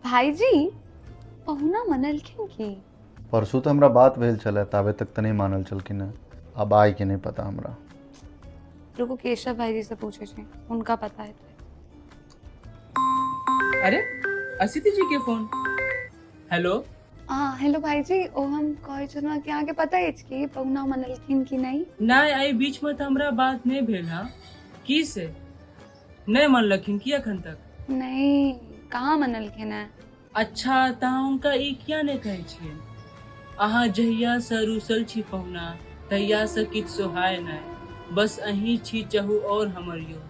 भाईजी पहुना मनलखिन की परसू तऽ हमरा बात भेल छलै ताबे तक तऽ नहि मानल छलखिन हेँ आब आइ के नहि पता हमरा रुको केशव भाईजी से पूछे छी उनका पता है अरे असिति जी के फोन हेलो हाँ हेलो भाईजी ओ हम कहे छलहुँ कि अहाँके पता अछि कि पहुना मनलखिन कि नहि नहि एहि बीचमे तऽ हमरा बात नहि भेल हँ की से नहि मनलखिन की एखन तक नहि कहाँ मनलखिन है अच्छा तऽ अहाँ हुनका ई किया नहि कहै छियै अहाँ जहियासँ रूसल छी पहुना तहियासँ किछु सोहाय नहि बस अहीं छी चहु और हमर यो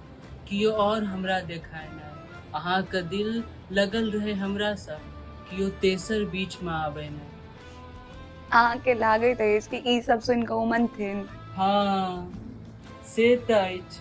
कियो और हमरा देखाय नहि अहाँके दिल लगल रहै हमरासँ कियो तेसर बीचमे आबै नहि अहाँके लागैत अछि कि ई सब सुनि कऽ ओ मनथिन हँ से तऽ अछि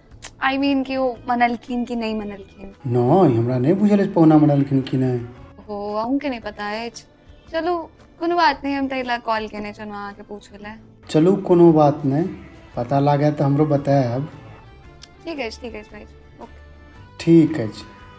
आई मीन कि ओ मनलखिन कि नहि मनलखिन नहि हमरा नहि बुझल अछि पहुना मनलखिन कि नहि हो अहूँके नहि पता अछि चलू कोनो बात नहि हम ताहि लए कॉल केने छलहुँ अहाँके पूछय लए चलू कोनो बात नहि पता लागए तऽ हमरो बतायब ठीक अछि ठीक अछि भाई ओके ठीक अछि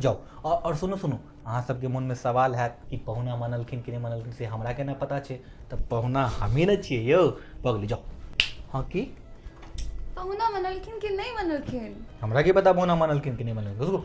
जाउ आओर आओर सुनू सुनू अहाँसभके मोनमे सवाल हैत कि पहुना मानलखिन कि नहि मानलखिन से हमरा केना पता छै तऽ पहुना हमही ने छियै यौ भऽ गेलै जाउ हँ की पहुना मनलखिन कि नहि मनलखिन हमरा की पता पहुना मानलखिन कि नहि मानलखिन रुकू